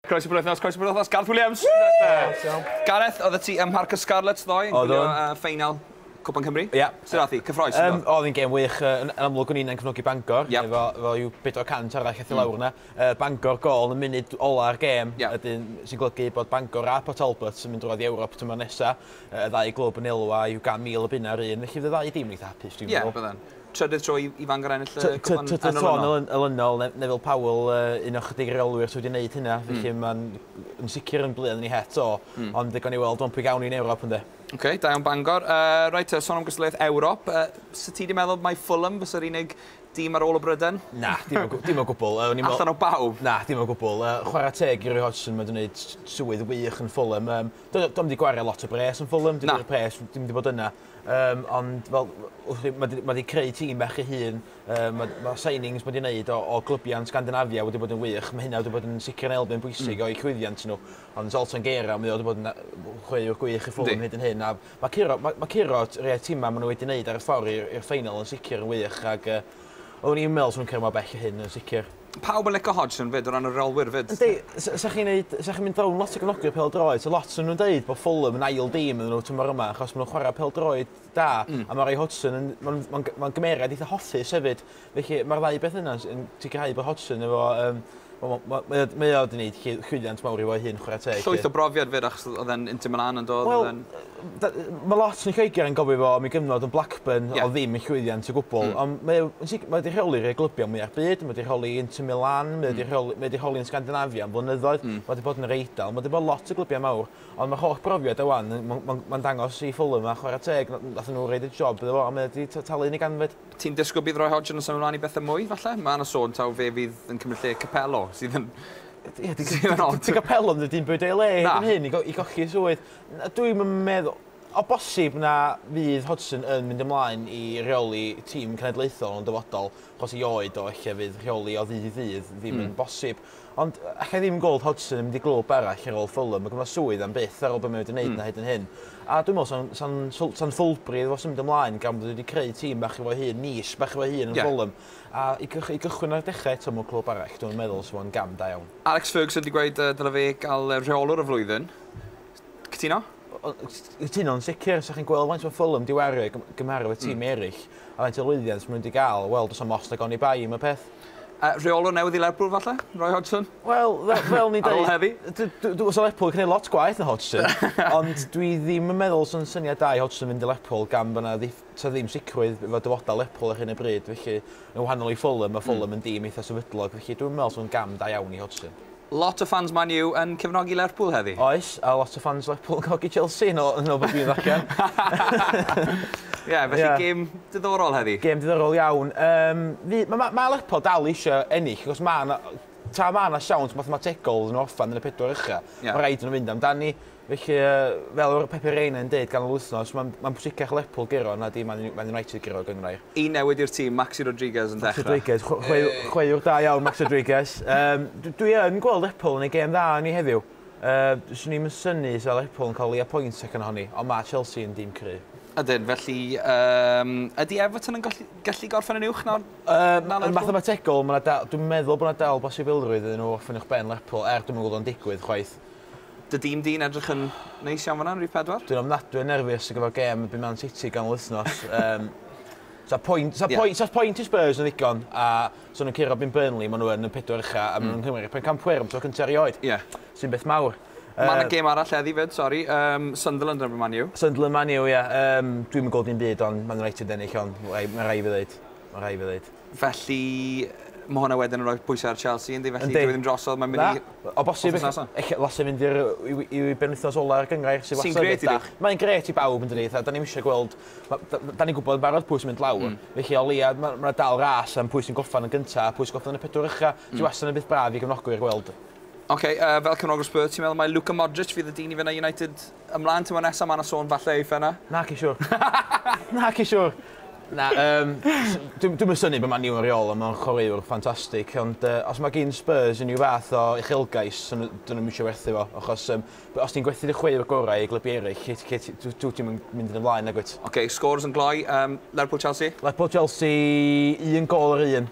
Croeso bo'r wythnos, croeso bo'r wythnos, Gareth Williams! Gareth, oedd y ti ym Mharc y Scarlets ddoe yn gwylio ffeinal Cwpan Cymru? Ie. Sut ath hi? Cyffroes? Yym, oedd hi'n gêm wych. Yn amlwg o'n i'n yn cefnogi Bangor, efo yw 400 arall eith i lawr yna. Bangor gol yn y munud ola'r gêm, ydyn sy'n golygu bod Bangor a Port Talbot yn mynd drwodd i Ewrop tymor nesa. Y ddau glwb yn elwa yw gan mil y bunna yr un, felly fydde ddau dîm yn eitha hapus dwi'n meddwl. Ie, bydden. Trydydd tro i i Fangor ennill y cwpan yn olynol. Trydydd tro yn olynol, Neville Powell, un o chydig reolwyr sydd wedi gwneud hynna, felly mae'n yn sicr yn blu arnyn ni het o, ond gawn ni weld ond pwy gawn ni yn Ewrop ynde. Ok, da iawn Bangor. Uh, right, uh, son am gystadleuaeth Ewrop, uh, sy ti wedi meddwl mai Fulham fysa'r unig dîm ar ôl o Bryden? Na, dim o, dim o gwbl. Uh, meddwl... Allan o bawb? Na, dim o gwbl. Uh, chwarae teg i Roy Hodgson, mae'n gwneud swydd wych yn Fulham. Um, Do'n di gwario lot o bres yn Fulham, dim wedi pres, dim wedi bod yna. Yym ond fel w'ch chi ma' 'di ma' 'di creu tîm bach ei hun yym ma' ma' signings ma' 'di neud o o glybia yn Sgandinafia wedi bod yn wych ma' hynna wedi bod yn sicr yn elfen bwysig o'u llwyddiant n'w ond Zoltan Gera mae o 'di bod yn yy chwaraewr gwych i Fulham hyd yn hyn a ma' curo ma' ma' curo t- rei o'r tima ma' n'w wedi neud ar y ffor i'r i'r ffeinal yn sicir yn wych ag yy oddwn i 'im me'wl swn nw'n cyrra mor bell â hyn yn sicir. Pawb yn lico Hodgson 'fyd o ran y reolwyr 'fyd. Yndi, s- sa chi'n neud, sa chi'n mynd fewn lot o gefnogi'r pêl-droed, so lot o'n nhw'n deud bod Fulham yn ail dîm iddyn nhw tymor yma achos maen nhw'n chwarae pêl-droed da mm. a mae Roy Hodgson yn mae'n mae'n mae'n gymeriad eitha hoffus hefyd. Felly mae'r ddau beth yna yn sicrhau bod Hodgson efo um, Mae mae o wedi gwneud llwyddiant mawr i fo'i hun, chwarae teg. Llwyth o brofiad fyd achos oedd e'n Inter Milan yn dod. Wel, D- ma' lot yn Lloeger yn gofio fo am ei gyfnod yn Blackburn Ie. o'dd ddim yn llwyddiant o gwbwl. Hmm. Ond mae o yn sic- mae 'di rheoli rhei glybiau mwya'ch byd ma' 'di rheoli Inter Milan mae o 'di Hmm. rheoli mae 'di rheoli yn Sgandinavia am flynyddoedd. Hmm. Ma' 'di bod yn yr Eidal ma' 'di bod lot o glybiau mawr ond ma'r holl brofiad e ŵan yn ma'n ma'n ma'n dangos i Fulham a chwara teg na- nathon nhw roid y job iddo fo a mae o 'di t- talu yn ei ganfed. Ti'n disgwl bydd Roy Hodgson yn symud mlan i bethe mwy falle? Ma' 'na sôn taw fe fydd yn cymryd lle Capello sydd yn Ie dy- dy- sydd yn od. Dy Capello 'im 'di dim byd o'i le Na. erbyn hyn i go- i golli 'i swydd. Na, dwi 'm yn meddwl. O bosib na fydd Hodgson yn mynd ymlaen i reoli tîm cenedlaethol yn y dyfodol, achos ei oed o, ella fydd rheoli o ddydd i ddydd ddim yn bosib. Ond alla i ddim gweld Hodgson yn mynd i glwb arall ar ôl Fulham, mae ganddo fo swydd am byth ar ôl be mae wedi wneud 'na hyd yn hyn. A dwi'n meddwl 'sa'n 'sa'n swl- 'sa'n foolproof iddo fo symud ymlaen gan bod o wedi creu tîm bach i fo'i hun, niche bach i fo'i hun yn Ie. Fulham. A i gych- i gychwyn ar dechre eto mewn clwb arall, dwi'm yn meddwl 'sa fo'n gam da iawn. Alex Ferguson 'di gweud yy dyle fe gael yy rheolwr y flwyddyn. Cytuno? O- o- s- cytuno yn sicir 'sach chi'n gweld faint ma' Fulham 'di wario i gym- gymharu efo tîm Hmm. eryll a faint o lwyddiant ma' n'w 'di ga'l wel do's 'na'm ots nag oni bai am y peth. Yy rheolwr newydd i Lerpwl falle? Roy Hodgson? Wel fe- fel ni'n Ar ôl deud heddi? d- d- dw- sa Lerpwl yn gneud lot gwaeth na Hodgson ond dwi ddim yn meddwl sa'n syniad da i Hodgson fynd i Lerpwl gan bo' 'na ddiff- 'sa ddim sicrwydd efo dyfodol Lerpwl ar hyn o bryd felly yn wahanol i Fulham ma' Fulham yn dîm eitha sefydlog felly dwi'm yn me'wl sa fo'n gam da iawn i Hodgson. Lot o ffans Man U yn cefnogi Lerpwl heddi. Oes, a lot o ffans Lerpwl yn cefnogi Chelsea yn ol yn ol be' dwi'n ddarllen. Ie, felly Ie. gêm diddorol heddi. Gêm diddorol iawn. Yym fy- ma' ma' ma' Lerpwl dal isio ennill achos ma' 'na tra ma' 'na siawns mathemategol iddyn nhw orffen yn y pedwar ucha Ie. ma' raid iddyn nhw fynd amdani. Felly, fel oedd Pepe Reina yn deud ganol wythnos, mae'n pwysicach Lerpwl guro na di Man United guro, ac enghraifft. Un newid i'r tîm, Maxi Rodriguez yn dechrau. Maxi Rodriguez, chwaraewr da iawn Maxi Rodriguez. Dwi yn gweld Lerpwl yn ei gêm dda arni heddiw. Swn i'm yn synnu os fysa Lerpwl yn cael o leia pwynt allan ohoni, ond mae Chelsea yn dîm cryf. Ydyn, felly ydy Everton yn gallu gorffen yn uwch na Lerpwl? Yn fathemategol, dwi'n meddwl bod yna dal bosibilrwydd iddyn nhw orffen uwchben Lerpwl, er dwi'm yn gweld o'n digwydd chwaith. Dy dîm di'n edrych yn neis iawn fan'na yn rif pedwar. Dwi'n ofnadwy o nerfus ar gyfer gêm erbyn Man City ganol wythnos. Yym, Sa'r pwynt, sa'r pwynt, sa'r pwynt i Spurs yn ddigon, a so nhw'n curo bin Burnley, maen nhw yn y pedwar ucha, a maen nhw'n nghymryd pencampwyr am tro cynta erioed. Ie. Sy'n beth mawr. Mae yna gêm arall heddi 'fyd, sori, yym, Sunderland yn erbyn Man U. Sunderland Man U, ie. Yym, dwi'm yn gweld dim byd ond Man United yn ennill, ond ma' rai' fi ddeud, ma' rai' fi ddeud. Felly, ma' hwnna wedyn yn rhoi pwysau ar Chelsea, yndi? Felly, dyw e ddim drosodd, mae'n mynd i... Na, o bosib, ella ddylse mynd i'r... i benwythnos ola'r gynghrair sydd wastad yn beth da. Mae'n grêt i bawb, yn dydi? Fatha, 'dan ni'm isio gweld... dan ni'n gwybod yn barod pwy sy'n mynd lawr. Felly, o leia, ma' 'na dal ras am pwy sy'n gorffen yn gynta' a pwy sy'n gorffen yn y pedwar ucha'. Sy wastad yn beth braf i gefnogwyr gweld. Ocê, fel cefnogwr Spurs, ti'n meddwl mai Luka Modric fydd y dyn i fynd â United Ymlaen tymor nesa ma' 'na sôn falle eitha yna. Naci siwr. Naci siwr. Na yym dw- dwi'm yn synnu bo Man U yn reol on' ma'n chwaraewr ffantastic ond yy os ma' gin Spurs unryw fath o uchelgais so n'w 'dyn nw'm isio werthu fo achos yym b- os ti'n gwerthu dy chwaraewr gorau i glybu eryll lle t- lle t- dw- dwt ti'm yn mynd yn y flaen nagwyt? Oce scores yn gloi yym Lerpwl Chelsea? Lerpwl Chelsea un gôl yr un.